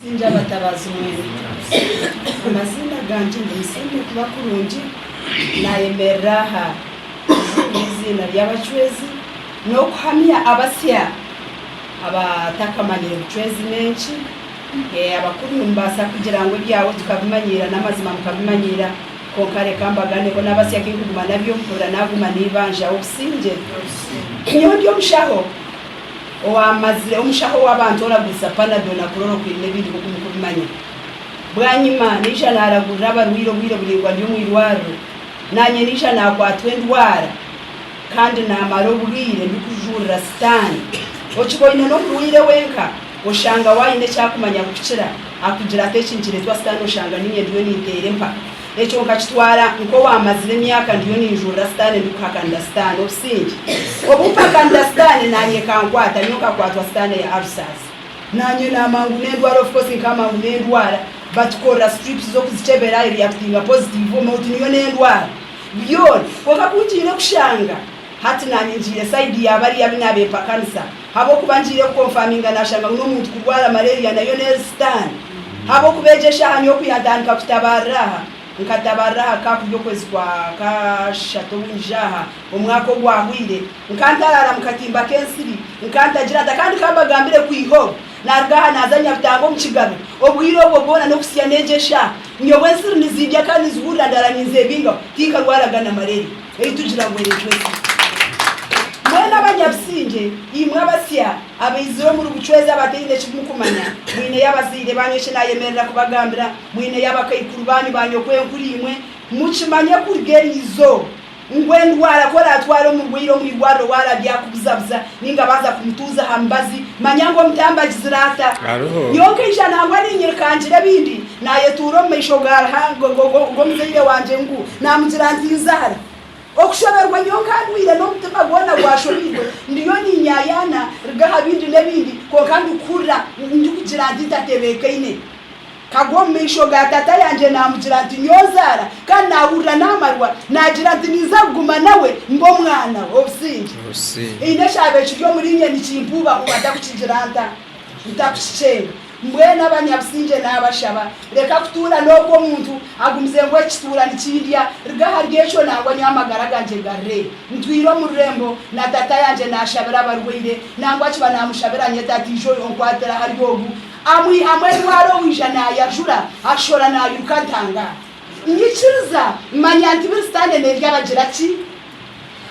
Ndi abatabaazi mwena. Amaziina gangye ndi Musingye Kuba Kurungi, nayemerera aha kuzinga eiziina ry'abacwezi n'okuhamya abasya abatakamanyire bucwezi n'enki. Abakuru nimubaasa kugira ngu ebyaabo tukabimanyiira n'amazima mukabimanyiira, kwonka reka mbagane bo n'abasya kinkuguma nabyo mpurira naguma neibanjaho obusingye. Nyowe ndi omushaho. Owaamazire, omushaho w'abantu oraguriza Panadol na Chloro Queen n'ebindi nk'oku muri kubimanya. Bwanyima, naija naaragurira abarwaire obwire buraingwa ndi omu irwariro. Naanye naija naakwatwa endwara kandi naamara obwire ndikujurira Sitaane. Okiboine n'omurwaire wenka, oshanga we aine ekyakumanya kukukira. Akugira ati, Eki nikireetwa Sitaane oshanga niinye ndiyo ninteera empaka. Ekyo nkakitwara nk'owaamazire emyaka ndiyo ninjurira Sitaane ndikuhakanira Sitaane obusingye. Obu mpakanira Sitaane naanye ekankwata, nyowe nkakwatwa Sitaane ya Arusaasi. Naanye n'amangu n'endwara of course nk'amangu n'endwara. Batukorera strips z'okuzikyebera ereactinga positive omu mouth niyo n'endwara. Byona. Kwonka ku ngiire kushanga hati naanye ngiire side ya bariya abu naabe mpakanisa. Habwokuba ngiire kukonfaminga nashanga ngu n'omuntu kurwara malaria nayo n'eri sitaani. Habwokuba egyo eshaaha nyowe ku yantandika kutabaarira aha, nkatabaarira aha ka kuri okwezi kwa kashatu obu ngije aha, omwaka ogwahwaire, nka ntaraara mu katimba k'ensiri, nka ntagira nta kandi ka mbagambire kwiha obu naaruga aha naaza Nyabitanga omu kigaro. Obwire obwo bwona n'okuhitsya n'egyo eshaaha nyowe ensiri nizindya kandi nizihurira ndaara ninzeebingaho, tinkarwaraga na malaria. ei tugira ngu Eritweka. Mwena abanyabusingye, imwe abasya abaizire omuri bucwezi abataine eki mukumanya, mwineyo abazaire baanyu eki naayemerera kubagambira, mwineyo abakaikuru baanyu ba nyokwenkuru-imwe, mukimanye kuruga eriizo ngu endwara ku oraatwara omurwaire omu irwariro waaba aryakubuzabuza nainga abanza kumutuuza aha mubazi, manya ngu omutambagizi naata. Nyowe nkaija nangwa niinyirika ngira ebindi. Naayetuura omu maisho g'omuzaire wangye ngu naamugira nti, Nzaara! Okushoberwa nyowe nkandwaire n'omutima gwona gwashobeirwe, ndiyo ninyaayaana ruga aha bindi n'ebindi kwonka ndikuhurira ndikugira nti ntatebeekaine. Nkagwa omu maisho ga taata yangye naamugira nti, Nyowe Nzaara! Kandi naahurira naamarwa naagira nti ninza kuguma nawe mbe omwana we. Obusingye haine ekyaba ekiri omuriinye nikimpuubahuuba ntakukigira nta? Ntakukikyenga? Mbwenu abanyabusingye naabashaba, reka kutuura n'oku omuntu agumize ngu ekituura nikindya, ruga ahari ekyo nangwa nyowe amagara gangye garre ntwire omu rurembo na Tata yangye naashabira abarwaire, nangwa akiba naamushabira anyeta ati, Ija onkwatire ahari ogu. Amwihamu endwara owaija naayajura, ashora naairuka atangara. Nyikiriza, manya nti buri sitaane nerya bagira ki?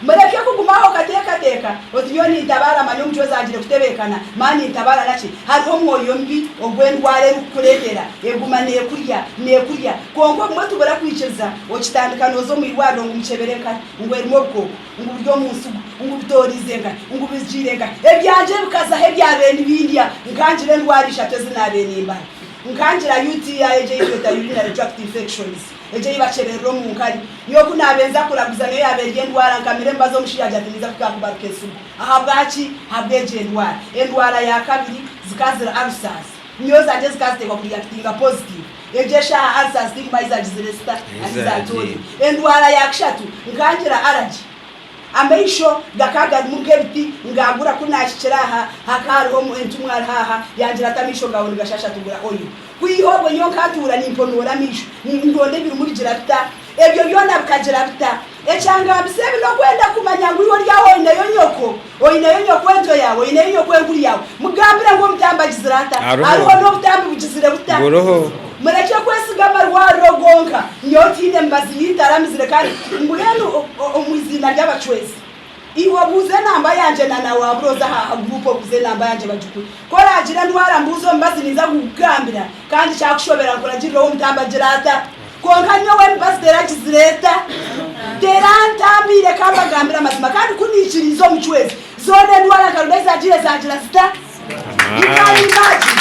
Mureke kuguma aho okateekateeka oti nyowe nintabaara manya omucwezi agire kutebeekana ma nintabaara naki? Hariho omwoyo mubi ogu endwara erikukureetera. Eguma neekurya, neekurya. Kwonka obumwe tubura kwikiriza, okitandika nooza omu irwariro ngu mukyebere enkari, ngu erimu obukooko, ngu buri omu nsigo, ngu bitooriize enkari, ngu bizigiire enkari. Ebyangye bikaza aho ebyabaire nibindya, nkangira endwara ishatu ezi naabaire nimbara. Nkangira UTI, egi ei tweta urinary tract infections. Egyo ei bakyeberera omu nkari. Nyowe ku naabenza kuraguza niyo yaaba eri endwara, nkamire mbaza omushaija ati ninza kuhika aha kubaruka ensugu. Ahabwaki? Ahabwa egyo endwara. Endwara ya kabiri zikaba ziri ulcers. Nyowe zangye zikaba ziteekwa ku reactinga positive. Egyo eshaaha ulcers tinkuba ahi zaagizire zita? Ahi zaatoorire. Endwara ya kashatu nkaba ngira allergy. Amaisho gakaba garimu nk'ebiti ngaagura ku naahikire aha hakaba hariho entumwa ariho aha yangira ati amaisho gaawe nigashasha tugura oil. Kwiha obwo nyowe nkatuura nimponoora amaisho nindonda ebirimurigira bita. Ebyo byona bikagira bita? Ekyangambisa ebi n'okwenda kumanya ngu iwe ori aho oineyo nyoko, oineyo nyokwenkyo yaawe, oineyo nyokwenkuru yaawe. Mugambire ngu omutambi agizire ata? Ariho n'obutambi bugizire buta? Murekye kwesiga amarwariro gonka. Nyowe tiine mibazi y'eitaramizire kandi mbwenu omu iziina ry'abacwezi. Iwe buuza enamba yangye na na waabura oze aha ha group obuuze enamba yangye bagikuhe. Ku oraagira endwara mbuuza omubazi ninza kugukugambira kandi kyakushobera nkuragirire ou omutambi agira ata. Kwonka nyowe emibazi teragizire eta? Terantambiire ka mbagambire amazima kandi ku niikiriize omu cwezi zoona endwara nka rubezagira ezaagira zita? You can imagine.